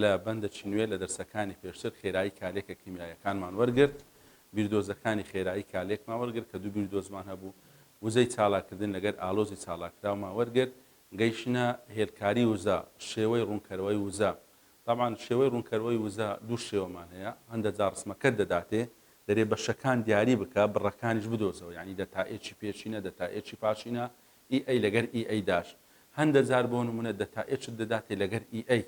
لە بەندەکی نوێ لە دەرسەکانی پێشتر خێرایی کالێکە کیمیاییەکانمان وەرگرت، بیردۆزەکانی خێرایی کالێکمان وەرگرت کە دوو بیردۆزمان هەبوو، وزەی چالاککردن لەگەر ئالۆزی چالاککراومان وەرگرت، گەیشتنە هێلکاری وزە، شێوەی ڕوونکەرەوەی وزە، تەبعەن شێوەی ڕوونکەرەوەی وزە دوو شێوەمان هەیە، هەندە جار ڕسمەکەت دەداتێ، دەرێ بەشەکان دیاری بکە، بڕەکانیش بدۆزەوە، یانی دەتائێکی پێشینە، دەتائێکی پاشینە، ئی ئەی لەگەر ئی ئەی داش هەندە جار بۆ نموونە دەتا ئێچت دەداتێ لەگەر ئی ئەی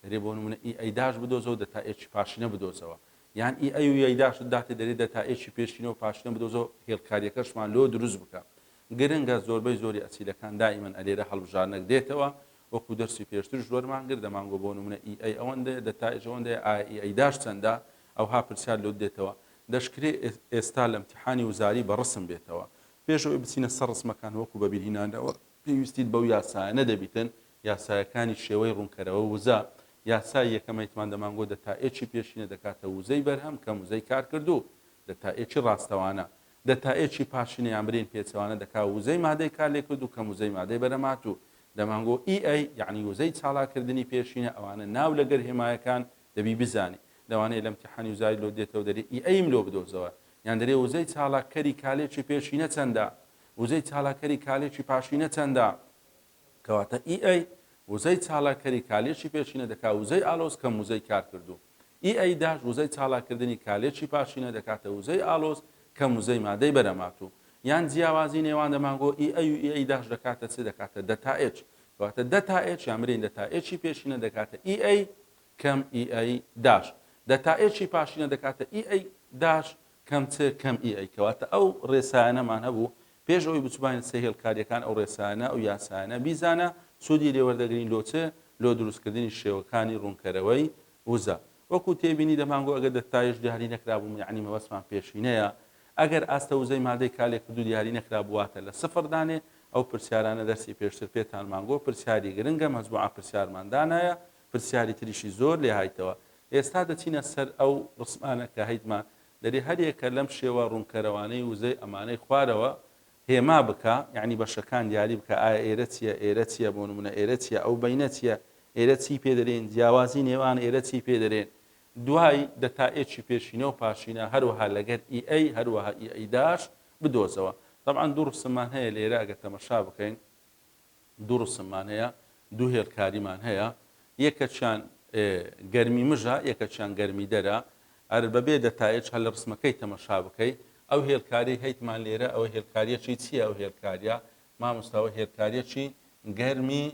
دەرێ بۆ نموونە ئی ئەی داش بدۆزەوە دەتا ئێچی پاشینە بدۆزەوە یان ئی ئەی و یەی داشت داتێ دەرێ دەتا ئێچی پێشینە و پاشینە بدۆزەوە هێڵکاریەکەشمان لۆ دروست بکە گرنگە زۆربەی زۆری ئەسیلەکان دائیمەن ئەلێرە هەڵبژارنەک دێتەوە وەکو دەرسی پێشترش وەرمان گرت دەمانگۆ بۆ نموونە ئی ئەی ئەوەندەیە دەتا ئێچ ئەوەندەیە ئایا ئی ئەی داش چەندە ئەوها پرسیار لۆت دێتەوە دەشکرێ ئێستا لە ئمتیحانی وزاری بە ڕسم بێتەوە پێش ئەوەی بچینە سەر ڕسمەکان وەکو بەبیرهینانەوە پێویستیت بەو یاسایانە دەبیتن، یاسایەکانی شێوەی ڕونکەرەوە وزە، یاسای یەکەم ئەیتمان دەمانگۆ دەتائێکی پێشینە دەکاتە وزەی بەرهەم کەم وزەی کارکردوو، دەتائێکی ڕاستەوانە، دەتائێکی پاشینە یان برین پێچەوانە دەکا وزەی مادەی کارلێکردوو کەم وزەی مادەی بەرهەمهاتوو، دەمانگۆ ئی ئەی یەعنی وزەی چالاککردنی پێشینە ئەوانە ناو لەگەر هێمایەکان دەبی بزانی لەوانەیە لەم تیحانی وزاری لۆ دێتەوە دەرێ ئی ئەیم لۆ بدۆزەوە یان دەرێ وزەی چالاک کەری کالێکی پێشینە چەندە وزەی چالاک کەری کالێکی پاشینە چەندە کەواتە ئی ئەی وزەی چالاک کەری کالێکی پێشینە دەکا وزەی ئالۆز کەم وزەی کار کردوو ئی ئەی داش وزەی چالاک کردنی کالێکی پاشینە دەکاتە وزەی ئالۆز کەم وزەی مادەی بەرەماتوو یان جیاوازی نێوان دەمانگۆ ئی ئەی و ئی ئەی داش دەکاتە چ دەکاتە دەتا ئێچ کەواتە دەتا ئێچ یان برێین دەتا ئێچی پێشینە دەکاتە ئی ئەی کەم ئی ئەی داش دە تا ئێ چی پاشینە دەکاتە ئی ئەی داش کەم چ کەم ئی ئەی کەواتە ئەو ڕێسایانەمان هەبوو پێش ئەوەی بچوباین سەی هێڵکاریەکان ئەو ڕێسایانە ئەو یاسایانە بیزانە سودی لێ وەردەگرین لۆ چ لۆ دروستکردنی شێوەکانی ڕونکەرەوەی وزە وەکو تێبینی دەمانگۆ ئەگەر دە تایش دیاری نەکرابوو یەعنی مەبەستمان پێشینەیە ئەگەر ئاستە وزەی مادەی کالێکردوو دیاری نەکرابوو واتە لە سفر دانێ ئەو پرسیارانە دەرسی پێشتر پێتانمان گۆ پرسیاری گرنگە مەجموعە پرسیارمان دانایە پرسیاری تریشی زۆر لێ هایتەوە. ئێستا دەچینە سەر ئەو ڕسمانە کە هەیتما دەرێ هەر یەکە لەم شێوە ڕوونکەرەوانەی وزەی ئەمانەی خوارەوە هێما بکا، یانی بەشەکان دیاری بکا، ئایا ئێرە چییە، ئێرە چییە، بۆ نموونە ئێرە چییە، ئەو بەینە چییە، ئێرە چیی پێ دەرێین، جیاوازی نێوان ئێرە چیی پێ دەرێن، دوای دەتا ئێچی پێشینە و پاشینە، هەروەها لەگەر ئی ئەی، هەروەها ئی ئەی داش بدۆزەوە. تەبعەن دوو ڕسممان هەیە لێرە ئەگەر تەمەشا بکەین. دوو ڕسممان هەیە، دوو هێڵکاریمان هەیە، یەکەکیان گەرمی مژە، یەکەکیان گەرمی دەرە، ئەر بەبێ دەتایج هەر لە ڕسمەکەی تەمەشا بکەی، ئەو هێڵکاریەی هەیتمان لێرە ئەوە هێڵکاریەکی چیە ئەو هێڵکاریە؟ مامۆستا ئەوە هێڵکاریەکی گەرمی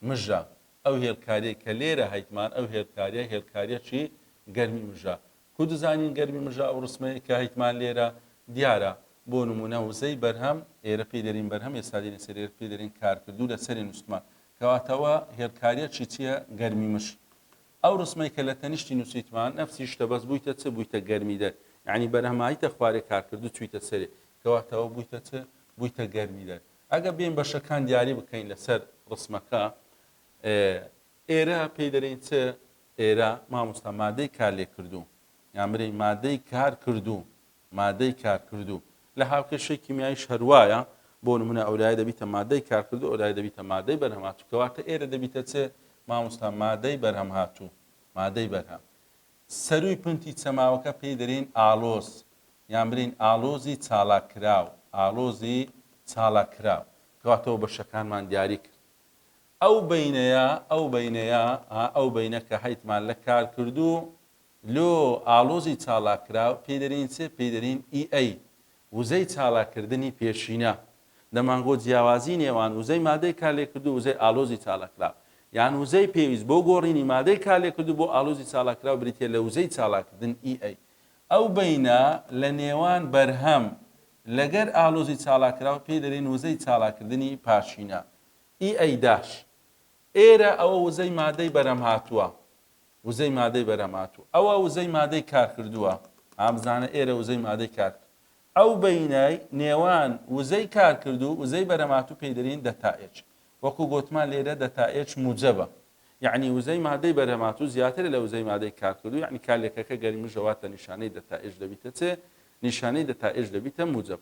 مژە، ئەو هێڵکاریەی کە لێرە هەیتمان ئەو هێڵکاریە هێڵکاریەکی گەرمی مژە، کو دزانین گەرمی مژە ئەو ڕسمەی کە هەیتمان لێرە دیارە بۆ نمونە وزەی بەرهەم ئێرە پێی دەرین بەرهەم ئێستا دێنە سەر ئێرە پێی دەرین کارکردوو لە سەرێ نوستمان کەواتە وە هێڵکاریە چی چیە گەرمی مژ ئەو ڕسمەی کە لە تەنیشتی نووسیتمان نەفسی شتە بەس بوویتە چ بوویتە گەرمی دەر یعنی بەرهەمایتە خوارێ کارکردوو چویتە سەرێ کەواتەوە بوویتە چ بوویتە گەرمی دەر ئەگە بێن بەشەکان دیاری بکەین لەسەر ڕسمەکە ئێرە پێی دەرێین چ؟ ئێرە مامۆستا مادەی کارلێککردوو یان برێی مادەی کارکردوو مادەی کارکردوو لە هاوکێشەی کیمیاییش هەر وایە بۆ نمونە ئەولایە دەبیتە مادەی کارکردوو ئەولایە دەبیتە مادەی بەرهەمهاتوو کەواتە ئێرە دەبیتە چ؟ مامۆستا مادەی بەرهەمهاتوو مادەی بەرهەم سەرووی پنتی چەماوەکە پێی دەرێین ئاڵۆز یان برێین ئاڵۆزی چالاککراو ئاڵۆزی چالاککراو کەواتەوە بەشەکانمان دیاری کرد ئەو بەینەیە ئەو بەینەیە ها ئەو بەینە کە هەیتمان لە کارکردوو لۆ ئاڵۆزی چالاککراو پێی دەرێین چ؟ پێی دەرێین ئی ئەی وزەی چالاککردنی پێشینە دەمانگۆت جیاوازی نێوان وزەی مادەی کارلێککردوو وزەی ئاڵۆزی چالاککراو یان وزەی پێویست بۆ گۆڕینی مادەی کارلێککردوو بۆ ئاڵۆزی چالاککراو بریتیە لە وزەی چالاککردن ئی ئەی ئەو بەینە لە نێوان بەرهەم لەگەر ئاڵۆزی چالاککراو پێی دەرێین وزەی چالاککردنی پاشینە ئی ئەی داش. ئێرە ئەوە وزەی مادەی بەرهەمهاتووە. وزەی مادەی بەرهەمهاتوو. ئەوە وزەی مادەی کارکردووە. ها بزانە ئێرە وزەی مادەی کارک. ئەو بەینای نێوان وزەی کارکردوو وزەی بەرهەمهاتوو پێی دەرین دەتا ئێچ. وەکوو گۆتمان لێرە دەتا ئێچ موجەبە. یەعنی وزەی مادەی بەرهەمهاتوو زیاترە لە وزەی مادەی کارکردوو یەعنی کارلێکەکە گەرمیشە واتە نیشانەی دەتا ئێچ دەبیتە چ؟ نیشانەی دەتا ئێچ دەبیتە موجەب.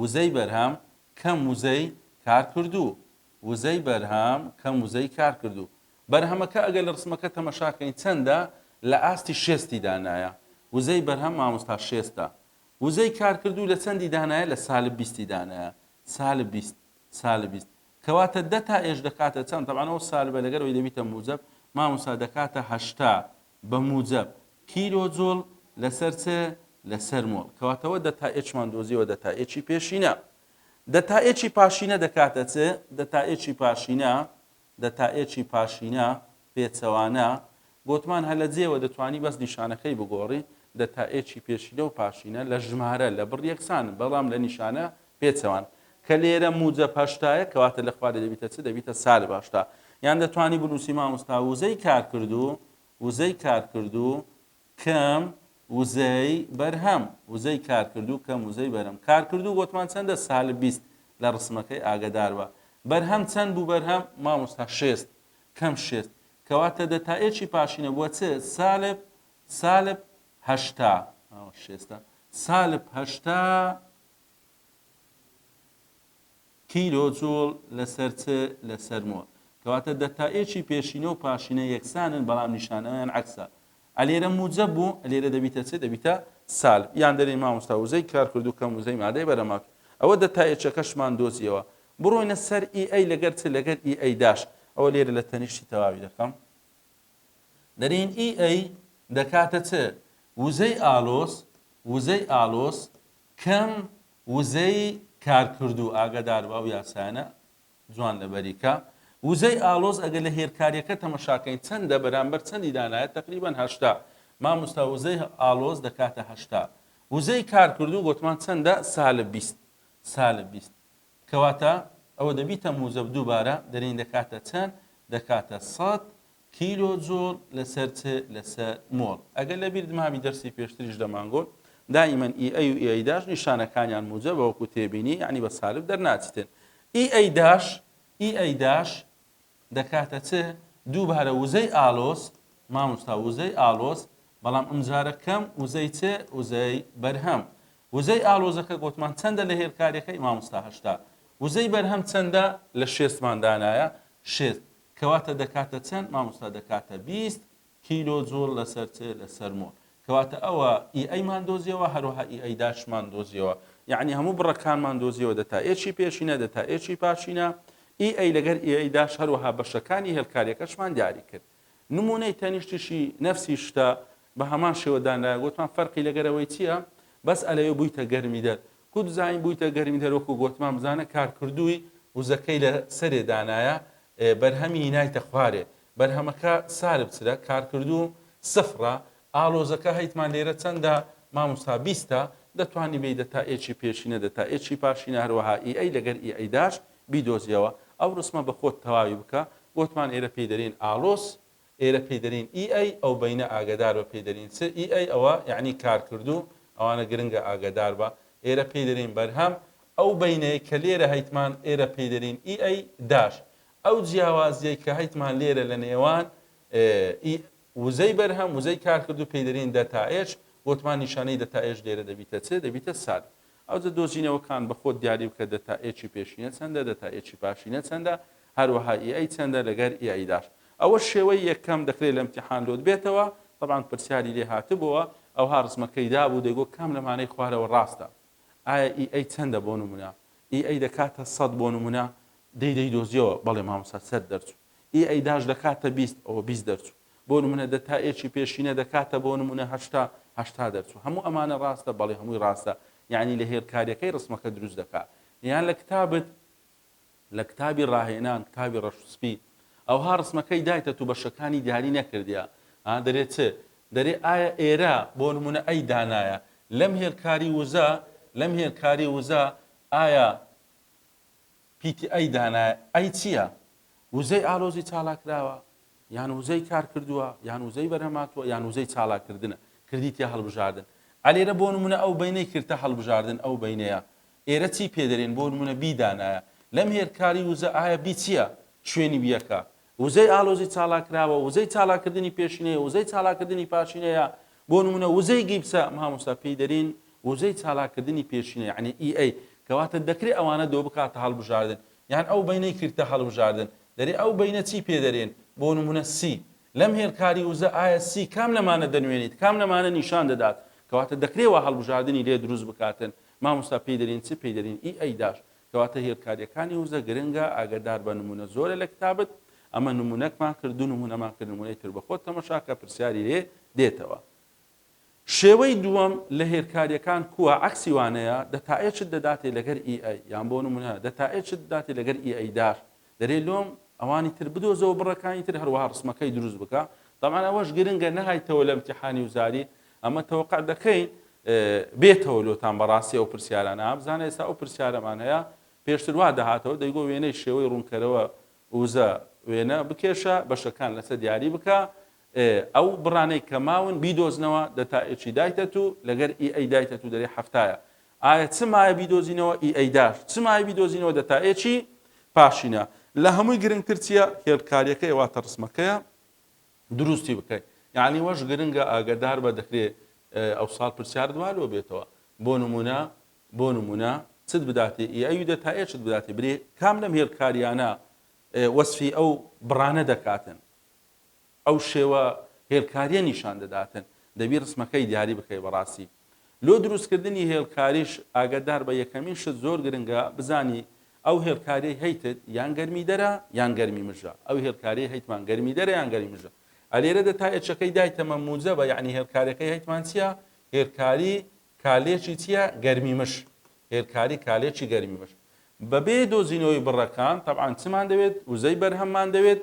وزەی بەرهەم کەم وزەی کارکردوو وزەی بەرهەم کەم وزەی کارکردوو بەرهەمەکە ئەگەر لە ڕسمەکە تەمەشا کەین چەندە لە ئاستی شێستی دانایە وزەی بەرهەم مامۆستا شێستە وزەی کارکردوو لە چەندی دانایە لە سالب بیستی دانایە سالب بیست سالب بیست کەواتە دە تا ئێش دەکاتە چەند تەبعەنەوە سالبە لەگەرەوەی دەبیتە موجب مامۆستا دەکاتە هەشتا بە موجەب، کیلۆ جۆل لەسەر چ؟ لەسەر مۆڵ. کەواتە وە دەتائێکمان دۆزیەوە دەتائێکی پێشینە. دەتائێکی پاشینە دەکاتە چ؟ دەتائێکی پاشینە، دەتائێکی پاشینە، پێچەوانە، گۆتمان هە لە جێوە دەتوانی بەس نیشانەکەی بگۆڕی، دەتائێکی پێشینە و پاشینە لە ژمارە، لە بڕ یەکسانن بەڵام لە نیشانە پێچەوان، کە لێرە موجەب هەشتایە کەواتە لە خوارێ دەبیتە چ؟ دەبیتە سالب هەشتا. یان دەتوانی بنوسی مامۆستا وزەی کارکردو وزەی کارکردو کەم وزەی بەرهەم وزەی کارکردو کەم وزەی بەرهەم کارکردو گۆتمان چەندە سالب بیست لە رسمەکەی ئاگەداربە بەرهەم چەند بو بەرهەم مامۆستا شێست کەم شێست کەواتە دە تا ئێکی پاشینە بوە چ سالب سالب هەشتا ئەوە شێستە سالب هەشتا کیلۆ جوڵ لەسەر چ؟ لەسەر مۆ. کەواتە دەتائێکی پێشینە و پاشینە یەکسانن بەڵام نیشانەوەیان عەکسە. ئە لێرە موجەب بوو ئە لێرە دەبیتە چ؟ دەبیتە سالب. یان دەرێی مامۆستا وزەی کارکردوو کەم وزەی مادەی بەرەماک. ئەوە دەتائێکەکەشمان دۆزیەوە. بڕۆینە سەر ئی ئەی لەگەر چ؟ لەگەر ئی ئەی داش. ئەوە لێرە لە تەنیشتی تەواوی دەکەم. دەرێین ئی ئەی دەکاتە چ؟ وزەی ئالۆز وزەی ئالۆز کەم وزەی کارکردوو ئاگادار بە ئەو یاسایانە جوان لەبەری کە. وزەی ئاڵۆز ئەگەر لە هێلکاریەکە تەمەشاکەین چەندە بەرامبەر چەندی دانایە تەقریبەن هەشتا ماموستا وزەی ئاڵۆز دەکاتە هەشتا وزەی کارکردوو گۆتمان چەندە سالب بیست سالب بیست کەواتە ئەوە دە بیتە موجەب دووبارە دەرین دەکاتە چەند دەکاتە سەد کیلۆ جۆڵ لەسەر چ لەسەر مۆڵ ئەگەر لە بیرت مابی دەرسی پێشتریش دەمانگۆت دائیمەن ئی ئەی و ئی ئەی داش نیشانەکانیان موجە بەوەکو تێبینی یعنی بە سالب دەرناچتن ئی ئەی داش ئی ئەی داش دەکاتە چ؟ دووبارە وزەی ئالۆز، مامۆستا وزەی ئالۆز، بەڵام ئەمجارە کەم وزەی چ؟ وزەی بەرهەم. وزەی ئالۆزەکە گۆتمان چەندە لە هێلکاریەکەی؟ مامۆستا هەشتا. وزەی بەرهەم چەندە؟ لە شێستمان دانایە شێست. کەواتە دەکاتە چەند؟ مامۆستا دەکاتە بیست کیلۆ جوڵ لەسەر چ؟ لەسەر مۆ. کەواتە ئەوە ئی ئەیمان دۆزیەوە هەروەها ئی ئەی داشمان دۆزیەوە یەعنی هەموو بڕەکانمان دۆزیەوە دەتا ئێچی پێشینە دەتا ئێچی پاشینە ئی ئەی لەگەر ئی ئەی داش هەروەها بەشەکانی هێلکاریەکەشمان دیاری کرد نمونەی تەنیشتیشی نەفسی شتە بە هەمان شێوە دانرایە گوتمان فەرقی لەگەر ئەوەی چییە بەس ئەلەوێ بوویتە گەرمی دەر کو بزانین بوویتە گەرمی دەر وەکو گوتمان بزانە کارکردووی وزەکەی لە سەرێ دانایە بەرهەمی نایتە خوارێ بەرهەمەکە سارب چرە کارکردو سفرە ئالۆزەکە هەیتمان لێرە چەندە ماموستا بیستە دەتوانی بێیدە تا ئێچی پێشینە دە تا ئێچی پاشینە هەروەها ئی ئەی لەگەر ئی ئەیداش بیدۆزیەوە ئەو رسمە بە خۆت تەواوی بکە گۆتمان ئێرە پێی دەرێین ئالۆز ئێرە پێی دەرێین ئی ئەی ئەو بەینە ئاگەدار بە پێی دەرین چ ئی ئەی ئەوە یەعنی کارکردو ئەوانە گرنگە ئاگەدار بە ئێرە پێی دەرێین بەرهەم ئەو بەینەی کە لێرە هەیتمان ئێرە پێی دەرێین ئی ئەی داش ئەو جیاوازیەی کە هەیتمان لێرە لە نێوان ی وزەی بەرهەم وزەی کارکردوو پێی دەرێین دەتا ئێچ بۆتمان نیشانەی دەتا ئێچ لێرە دەبیتە چ دەبیتە ساد ئەوجە دۆزینەوەکان بە خۆت دیاری بکە دەتا ئێچی پێشینە چەندە دەتا ئێچی پاشینە چەندە هەروەها ئی ئەی چەندە لەگەر ئی ئەی داش ئەوە شێوەی یەکەم دەکرێت لە امتحان لۆت بێتەوە طبعا پرسیاری لێ هاتبووە ئەوها ڕسمەکەی دابوو دەگۆ کام لەمانەی خوارەوە ڕاستە ئایا ئی ئەی چەندە بۆ نمونە ئی ئەی دەکاتە سەد بۆ نمونە دەی دەی دۆزیەوە بەڵێ مامۆستا سەر دەرچوو ی ئەی داش دەکاتە بیست ئەوە بیست دەرچوو بۆ نمونە دە تا ێکی پێشینە دەکاتە بۆ نمونە هەشتا هەشتا دەرچوو هەموو ئەمانە ڕاستە بەڵێ هەمووی ڕاستە یانی لە هێلکاریەکەی ڕسمەکە دروست دەکا یان لە کتابت لە کتابی ڕاهێنان کتابی ڕەش سپی ئەوها ڕسمەکەی دایتە تو بەشەکانی دیاری نەکردیە ها دەرێ چ دەرێ ئایا ئێرە بۆ نمونە ئەی دانایە لەم هێلکاری وزە لەم هێلکاری وزە ئایا پیتی ئەی دانایە ئەی چییە؟ وزەی ئالۆزی چالاکراوە؟ یان وزەی کارکردووە؟ یان وزەی بەرهەمهاتووە؟ یان وزەی چالاککردنە؟ کردیتە هەڵبژاردن؟ ئەلێرە بۆ نموونە ئەو بەینەی کردتە هەڵبژاردن ئەو بەینەیە ئێرە چی پێدەرێن بۆ نموونە بی دانایە لەم هێرکاری وزە ئایا بی چییە شوێنی بیەکە وزەی ئالۆزی چالاککراوە، وزەی چالاککردنی پێشینەیە، وزەی چالاککردنی پاشینەیە، بۆ نموونە وزەی گیپسە، مامۆستا پێی دەرین وزەی چالاککردنی پێشینە یانی ئی ئەی، کەواتە دەکرێ ئەوانە دۆ بکاتە هەڵبژاردن، یان ئەو بەینەی کردتە هەڵبژاردن، دەرێ ئەو بەینە چی پێ دەرێن، بۆ نموونە سی، لەم هێلکاری وزە ئایا سی کام لەمانە دەنوێنیت، کام لەمانە نیشان دەدات، کەواتە دەکرێ وا هەڵبژاردنی لێ دروست بکاتن، مامۆستا پێی دەرین چ پێی دەرین ئی ئەی داش، کەواتە هێلکاریەکانی وزە گرنگە ئاگەدار بە نمونە زۆرە لە کتابت ئەمە نمونەکمان کرد دوو نمونەمان کرد نمونەی تر بە خۆت تەمەشاکە پرسیاری لێ دێتەوە شێوەی دووەم لە هێلکاریەکان کووە عەکسی وانەیە دەتائێ چت دەداتێ لەگەر ئی ئەی یان بۆ نمونە دەتائێ چت دەداتێ لەگەر ئی ئەی دار دەرێ لۆم ئەوانی تر بدۆزەوە بڕەکانی تر هەروەها ڕسمەکەی دروست بکە تەبعەن ئەوەش گرنگە نەهایتەوە لە امتیحانی وزاری ئەمە تەوقع دەکەین بێتەوە لۆتان بەڕاستی ئەو پرسیارانە ئابزانە ئێستا ئەو پرسیارەمان هەیە پێشتر وا دەهاتەوە دەیگۆ وێنەی شێوەی ڕوونکەرەوە وزە وێنە بکێشە بەشەکان لەسەر دیاری بکە ئێ ئەو بڕانەی کە ماون بیدۆزنەوە دە تا ئێچی دایتەت و لەگەر ئی ئەی دایتەت و دەرێ حەفتایە ئایا چ مایە بیدۆزینەوە ئی ئەی داش چ مایە بیدۆزینەوە دە تا ئێچی پاشینە لە هەمووی گرنگتر چیە هێلکاریەکەی واتە ڕسمەکەیە دروستی بکەی یانی وەش گرنگە ئاگەدار بە دەکرێ ئەوساڵ پرسیارت وا لۆ بێتەوە بۆ نمونە بۆ نمونە چت بداتێ ئی ئەوی دە تا ئێچت بداتێ برێ کام لەم هێلکاریانە وەسفی ئەو بڕانە دەکاتن ئەو شێوە هێلکاریە نیشان دەداتن دەبی رسمەکەی دیاری بکەی بەڕاستی لۆ دروست کردنی هێلکاریش ئاگەدار بە یەکەمین شت زۆر گرنگە بزانی ئەو هێلکاریەی هەیتت یان گەرمی دەرە یان گەرمی مژە ئەو هێلکاریەی هەیتمان گەرمی دەرە یان گەرمی مژە ئەلێرەدە تا ئێچەکەی دایتەمە موجەبە یعنی هێلکاریەکەی هەیتمان چیە هێلکاری کالێچی چیە گەرمی مش. هێلکاری کالێچی گەرمی مش. بەبێ دۆزینەوەی بڕەکان تەبعەن چمان دەوێت؟ وزەی بەرهەممان دەوێت،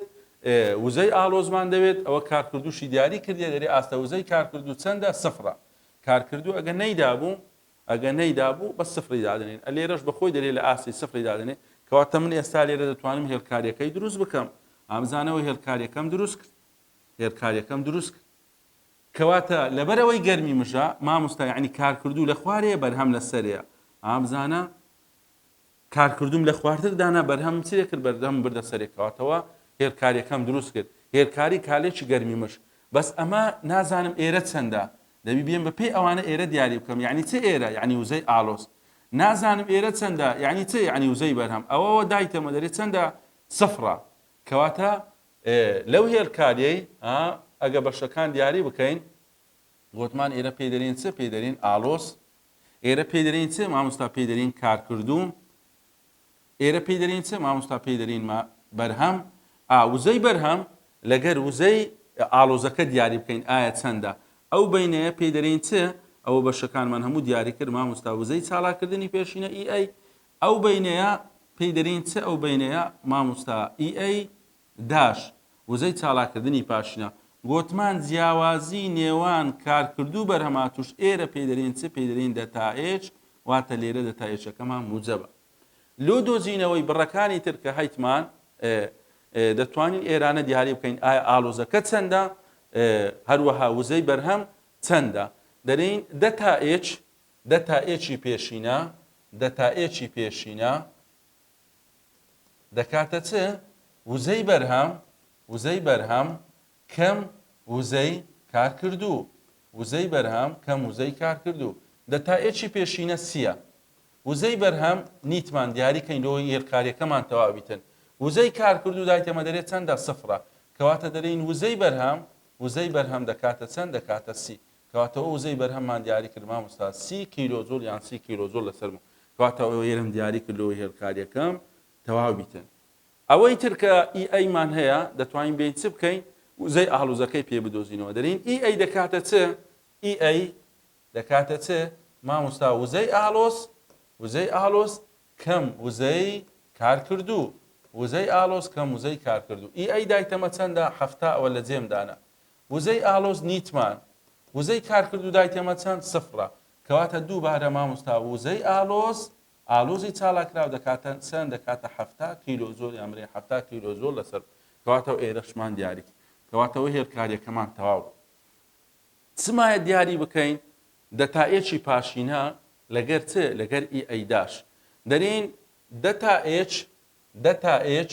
وزەی ئاڵۆزمان دەوێت، ئەوە کارکردووشی دیاری کردیە گەری ئاستە وزەی کارکردوو چەندە سفرە. کارکردوو ئەگە نەیدابوو ئەگە نەیدابوو بەس سفری دادەنێن ئە لێرەش بەخۆی دەرێ لە ئاستی سفری دادەنێ کەواتە من ئێستا لێرە دەتوانم هێلکاریەکەی دروست بکەم ئامزانەوە هێلکاریەکەم دروست کرد هێلکاریەکەم دروست کرد کەواتە لەبەر ئەوەی گەرمی مژە ماموستا یعنی کارکردوو لە خوارێ بەرهەم لە سەرێ ها بزانە کارکردوم لە خوارتر دانا بەرهەم چێ کرد بەردەم بردە سەرێ کەواتەوە هێرکاریەکەم دروست کرد هێرکاری کالێکی گەرمی مش بەس ئەمە نازانم ئێرە چەندە دەبی بێن بە پێی ئەوانە ئێرە دیاری بکەم یعنی چ ئێرە یعنی وزەی ئالۆس نازانم ئێرە چەندە یعنی چ یعنی وزەی بەرهەم ئەوەوە دایتەمە دەێت چەندە سفرە کەواتە ئێ لەو هێلکاریەی ها ئەگە بەشەکان دیاری بکەین گۆتمان ئێرە پێی دەرین چ پێی دەرین ئالۆس ئێرە پێی دەرین چ مامۆستا پێی دەرین کارکردوو ئێرە پێی دەرین چ مامۆستا پێی دەرین ما بەرهەم ئا وزەی بەرهەم لەگەر وزەی ئالۆزەکە دیاری بکەین ئایا چەندە ئەو بینەیە پێی دەرین چ ئەوە بەشەکانمان هەموو دیاری کرد مامۆستا وزەی چالاکردنی پێشینە ئی ئەی ئەو بەینەیە پێی دەرین چ ئەو بەینەیە ماموستا ئی ئەی داش وزەی چالاکردنی پاشنە گۆتمان جیاوازی نێوان کارکردوو بەرهەماتوش ئێرە پێی دەرین چ پێی دەرین دەتائێج واتە لێرە دەتائێچەکەمان موجەبە لۆ دۆزینەوەی بڕەکانی تر کە هەیتمان دەتوانین ئێرانە دیاری بکەین ئایا ئالۆزەکە چەندە هەروەها وزەی بەرهەم چەندە دەرین دەتائێچ دە تا ئێ چی پێشینە دە تا ئێ چی پێشینە دەکاتە چ؟ وزەی بەرهەم وزەی بەرهەم کەم وزەی کارکردوو وزەی بەرهەم کەم وزەی کارکردوو دە تا ئێ چی پێشینە سیە وزەی بەرهەم نیتمان دیاری کەین لۆ یێلکاریەکەمان تەواویتن وزەی کارکردوو دای تەمە دەرێت چەندە سفرە کەواتە دەرین وزەی بەرهەم وزەی بەرهەم دەکاتە چەند دەکاتە سی کەواتە ئەو وزەی بەرهەممان دیاری کرد مامۆستا سی کیلۆ جوڵ یان سی کیلۆ جوڵ لەسەر مەتر کەواتە ئەوەی هێلم دیاری کرد لەوەی هێلکاریەکەم تەواو بیتن ئەوەی تر کە ئی ئەیمان هەیە دەتوانین بێین چ بکەین وزەی ئاڵوزەکەی پێ بدۆزینەوە دەرین ئی ئەی دەکاتە چ ئی ئەی دەکاتە چ مامۆستا وزەی ئاڵۆز وزەی ئاڵۆز کەم وزەی کارکردوو وزەی ئاڵۆز کەم وزەی کارکردوو ئی ئەی دایتەمە چەندە هەفتا ئەوە لە جێمدانە وزەی ئالۆز نیتمان وزەی کارکردو دایتەمە چەند سفرە کەواتە دووبارە ماموستا وزەی ئالۆز ئالۆزی چالاکراو دەکاتە چەند دەکاتە حەفتا کیلۆ جۆل یان برێ حەفتا کیلۆ جۆل لەسەر کەواتە ئێرەشمان دیاری کرد کەواتەوە هێلکاریەکەمان تەواو بوو چمایە دیاری بکەین دەتائێکی پاشینە لەگەر چ لەگەر ئی ئەیداش دەرین دەتائێک دەتائێک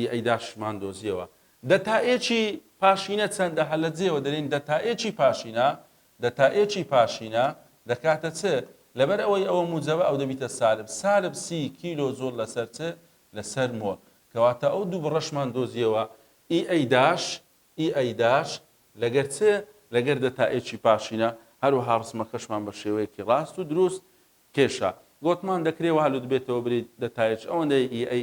ی ئەیداشمان دۆزیەوە. دەتائێکی پاشینە چەندە؟ هەر لە جێیەوە دەلێین دەتائێکی پاشینە، دەتائێکی پاشینە، دەکاتە چ؟ لەبەر ئەوەی ئەوە موجەبە ئەو دەبیتە سالب، سالب سی کیلۆ جوڵ لەسەر چ؟ لەسەر مۆل. کەواتە ئەو دوو بڕەشمان دۆزیەوە، ی ئەیداش، ی ئەیداش لەگەر چ؟ لەگەر دەتائێکی پاشینە. هەروەها ڕسمەکەشمان بە شێوەیەکی ڕاست و دروست کێشا. گۆتمان دەکرێ وا لوتبێتەوە بلیت دەتائێک ئەوەندەی ی ئەی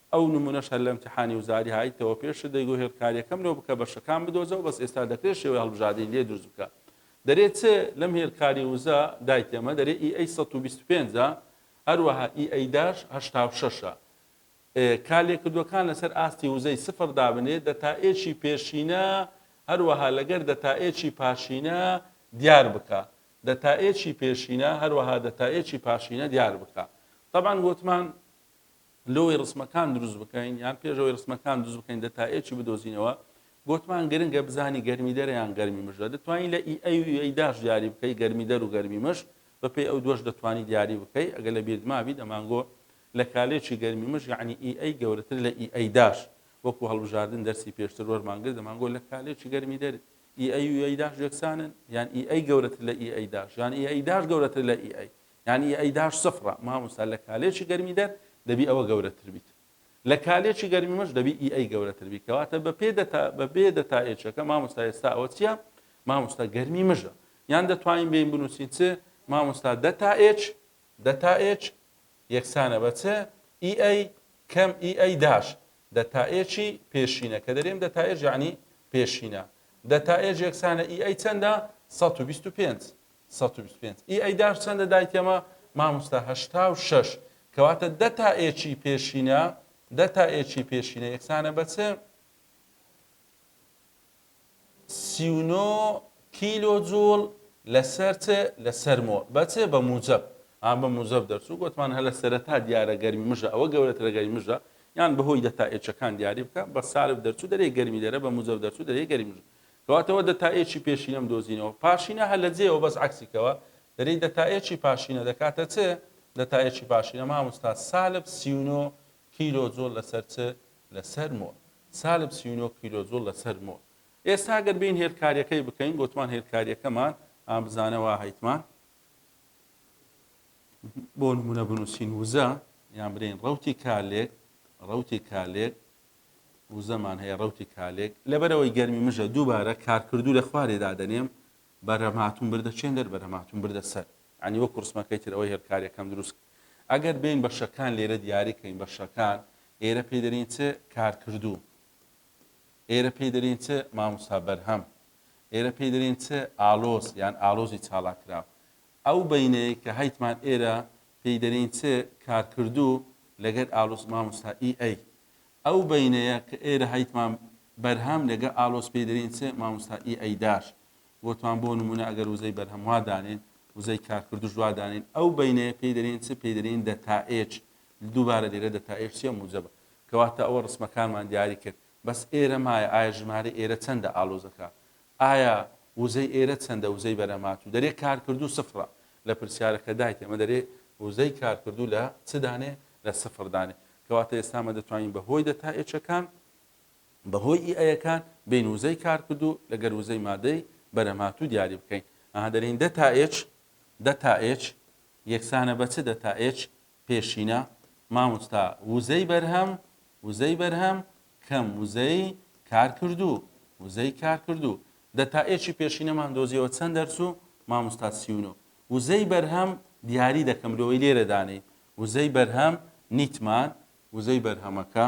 ئەو نمونەش هەر لە امتحانی وزاری هایتەوە پێشتر دەیگۆت هێڵکاریەکەم لۆ بکە بەشەکان بدۆزەوە بەس ئێستا دەکرێت شێوەی هەڵبژادنی لێ دروست بکە دەرێ چ لەم هێلکاری وزە دای تێمە دەرێ ئی ئەی سەد و بیست و پێنج ە هەروەها ئی ئەی داش هەشتا و شەش ە کا لێکردوەکان لەسەر ئاستی وزەی سفر دابنێ دەتائێکی پێشینە هەروەها لەگەر دەتائێکی پاشینە دیار بکە دەتائێکی پێشینە هەروەها دەتائێکی پاشینە دیار بکە تەبعەن ووتمان لەوەی ڕسمەکان دروست بکەین یان پێش ئەوەی ڕسمەکان دروست بکەین دەتایەکی بدۆزینەوە گوتمان گرنگە بزانی گەرمی دەرە یان گەرمی مژە دەتوانین لە ئی ئەی و ئەی داش دیاری بکەی گەرمی دەر و گەرمی مش بەپێی ئەو دوش دەتوانی دیاری بکەی ئەگە لە بیرت مابی دەمانگۆ لە کالێکی گەرمی مش یعنی ئی ئەی گەورەتر لە ئی ئەی داش وەکو هەڵبژاردن دەرسی پێشتر وەرمان گرت دەمانگۆ لە کالێکی گەرمی دەر ئی ئەی و ئەی داش یەکسانن یان ئی ئەی گەورەتر لە ئی ئەی داش یان ئی ئەی داش گەورەتر لە ئی ئەی یانی ئەی داش سفرە ماموستا لە کالێچی گەرمی دەر دەبی ئەوە گەورە تر بیت لە کالێچی گەرمی مەش دەبی ئی ئەی گەورە تر بی کەواتە بە پێ دەتا بە بێ دەتا ئێچەکە ماموستا ئێستا ئەوە چیە ماموستا گەرمی مژە یان دەتوانین بین بنووسین چ ماموستا دەتا ئێچ دەتا ئێچ یەکسانە بە چ ئی ئەی کەم ئی ئەی داش دەتا ئێچی پێشینە کە دەرێم دەتا ئێچ یعنی پێشینە دەتا ئێچ یەکسانە ئی ئەی چەندە 125 سەد و بیست و پێنج ی ئەیدار چەندە دایکەمە؟ ماموستا هەشتا و شەش کەواتە دە تا ێکی پێشینە دە تا ێکی پێشینە یەکسانە بە چ؟ سی و نۆ کیلۆ جوڵ لەسەر چ لەسەر مۆ بە چ بە موجب ئا بە موجب دەرچوو گوتمان هەلە سەرەتا دیارە گەرمی مژە ئەوە گەورەترە گەرمی مژە یان بەهۆی دەتا ئێچەکان دیاری بکە بە سالب دەرچوو دەرێ گەرمی دەرە بە موجب دەرچوو دەرێ گەرمی مژە کەواتە وە دەتا ئێکی پێشینەم دۆزینەوە پاشینە هە لە جێیەوە بەس عەکسی کەوە دەرێی دەتا ئێکی پاشینە دەکاتە چ دەتا ئێکی پاشینە ماموستا سالب سی و نۆ کیلۆ جۆل لە سەر چ لە سەر مۆ سالب سی و نۆ کیلۆ جۆل لە سەر مۆ ئێستا گەر بین هێلکاریەکەی بکەین گۆتمان هێلکاریەکەمان ئا بزانە وا هەیتمان بۆ نمونە بنووسین وزە یان برین ڕوتی کالێک ڕوتی کالێک وزەمان هەیە ڕەوتی کالێک لەبەرەوەی گەرمی مژە دووبارە کارکردوو لە خوارێ دادەنێم بەرهەم هاتوون بردە چێن دەر بەرهەم هاتوون بردە سەر عنی وەکو ڕسمەکەی تر ئەوەی هێلکارەکەم دروست ئەگەر بین بە شەکان لێرە دیاری کەین بە شەکان ئێرە پێ دەرین چ کارکردوو ئێرە پێ دەرین چ ماموسا بەرهەم ئێرە پێ دەرین چ ئالۆز یان ئالۆزی چاڵاکراو ئەو بەینەیەی کە هەیتمان ئێرە پێی دەرین چ کارکردو لەگەر ئالۆس ماموستا ئی ئەی ئەو بەینەیە کە ئێرە هەیتمان بەرهەم لەگە ئالۆس پێی دەرین چ ماموستا ئی ئەی داش وتمان بۆ نمونە ئەگەر وزەی بەرهەم وا دانێن وزەی کارکردوش وا دانێن ئەو بەینەیە پێی دەرین چ پێی دەرین دەتا ئێچ دووبارە لێرە دەتا ئێچ چیە موجەبە کەواتە ئەوە ڕسمەکانمان دیاری کرد بەس ئێرە مایە ئایا ژمارەی ئێرە چەندە ئالۆزەکە ئایا وزەی ئێرە چەندە وزەی بەرەماتوو دەرێ کارکردوو سفرە لە پرسیارە کە دایت ئێمە دەرێ وزەی کارکردوو لە چ دانێ لە سفر دانێ کەواتە ئێستا مە دەتوانین بە هۆی دەتا ئێچەکان بە هۆی ئی ئەیەکان بین وزەی کارکردوو لە گەر وزەی مادەی بەرەماتوو دیاری بکەین ئەها دەرێین دەتا ئێچ دەتا ئێچ یەکسانە بە چ دەتا ئێچ پێشینە، مامۆستا وزەی بەرهەم، وزەی بەرهەم، کەم وزەی کارکردوو، وزەی کارکردوو، دە تا ئێکی پێشینەمان دۆزیەوە چەند دەرچوو؟ مامۆستا سی و نۆ. وزەی بەرهەم دیاری دەکەم لۆی لێرە دانێی وزەی بەرهەم نیتمان وزەی بەرهەمەکە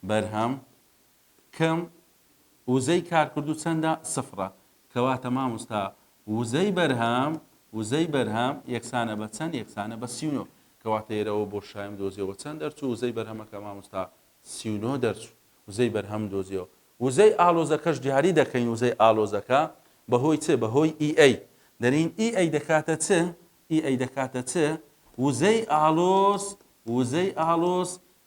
بەرهەم کم وزەی کارکردوو چەندە؟ سفرە. کەواتە ماموستا وزەی بەرهەم وزەی بەرهەم یەکسانە بە چەند یەکسانە بە سی و نۆ کەواتە ئێرەوە بۆ شایم دۆزیەوە چەند دەرچوو وزەی بەرهەمەکە ماموستا سی و نۆ دەرچوو وزەی بەرهەم دۆزیەوە وزەی ئالۆزەکەش دیاری دەکەین وزەی ئالۆزەکە بەهۆی چ بەهۆی ئی ئەی دەرین ئی ئەی دەکاتە چ ئی ئەی دەکاتە چ وزەی ئالۆز وزەی ئالۆز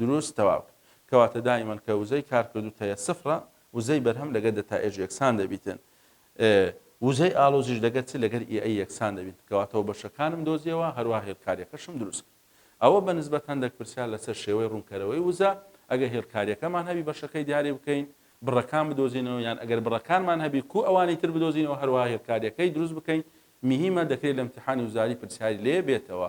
دروست تەواو کەواتە دائیمەن کە وزەی کارکردو تەیە سفڕە وزەی بەرهەم لەگەر دەتا ئێج یەکسان دەبیتن ئێ وزەی ئاڵۆزیش لەگەر چ لەگەر ئی ئەی یەکسان دەبیتن کەواتەوە بەشەکانم دۆزیەوە هەروا هێلکاریەکەشم دروست کرد ئەوە بە نسبەت هەندەک پرسیار لەسەر شێوەی ڕونکەرەوەی وزە ئەگەر هێلکاریەکەمان هەبی بەشەکەی دیاری بکەین بڕەکان بدۆزینەوە یان ئەگەر بڕەکانمان هەبی کو ئەوانی تر بدۆزینەوە هەروا هێلکاریەکەی دروست بکەین میهیمە دەکرێ لە امتحانی وزاری پرسیاری لێ بێتەوە